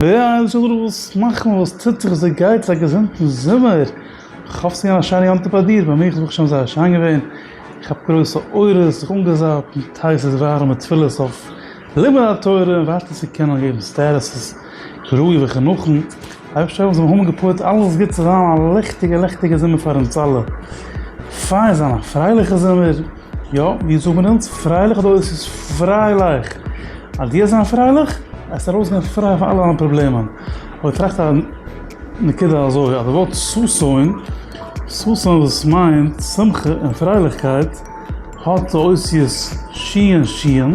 וויי זאל ער וואס מאכן וואס טוט זיך זיי גייטס א געזונטן זומער איך האף ס'איז געווען א שיינע יום טוב ביי דיר ביי מיך איז ברוך השם זייער שיין געווען איך האב גרויסע אורות זיך אנגעזאפט מיט הייסע ווארעמע תפילות אויף לימוד התורה און ווייטער צו קענען געבן סטערעסעס כראוי וכנכון אייבערשטער האב אונז מוחמד געפועלט אלעס גוט צו זיין א ליכטיגע לעכטיגע זומער פאר אונז אלע פאר זיין א פרייליכע זומער. יא, ווי זאגט מען אונז, פרייליך אדער אויס איז פריילייך. אז דו וועסט זיין פרייליך, וועסטו ארויסגיין פריי פון אלע דיינע פראבלעמען. אבער איך טראכט א נקודה אזוי, אז די ווארט ששון, ששון וואס מיינט שמחה און פרייליכקייט, האט די אותיות שי' און שי'ן,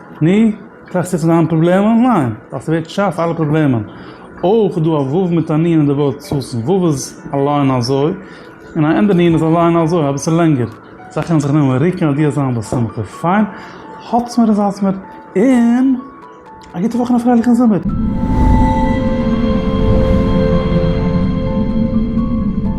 ני, טראכסט יעצט פון דיינע פראבלעמען? ניין, ווייל ס'ווערט שארף אלע פראבלעמען. אויך איז דא א ו' מיט א נ' אין די ווארט סוסים, ו' איז אליין אזוי, און א ענדע נ' איז אליין אזוי, אביסל לענגער. זיי קענען זיך נעמען ריקן אז דו האסט זיין בשמחה. פיין, האטס מיר איז האטס מיר, און א גוטע וואך און א פרייליכן זומער!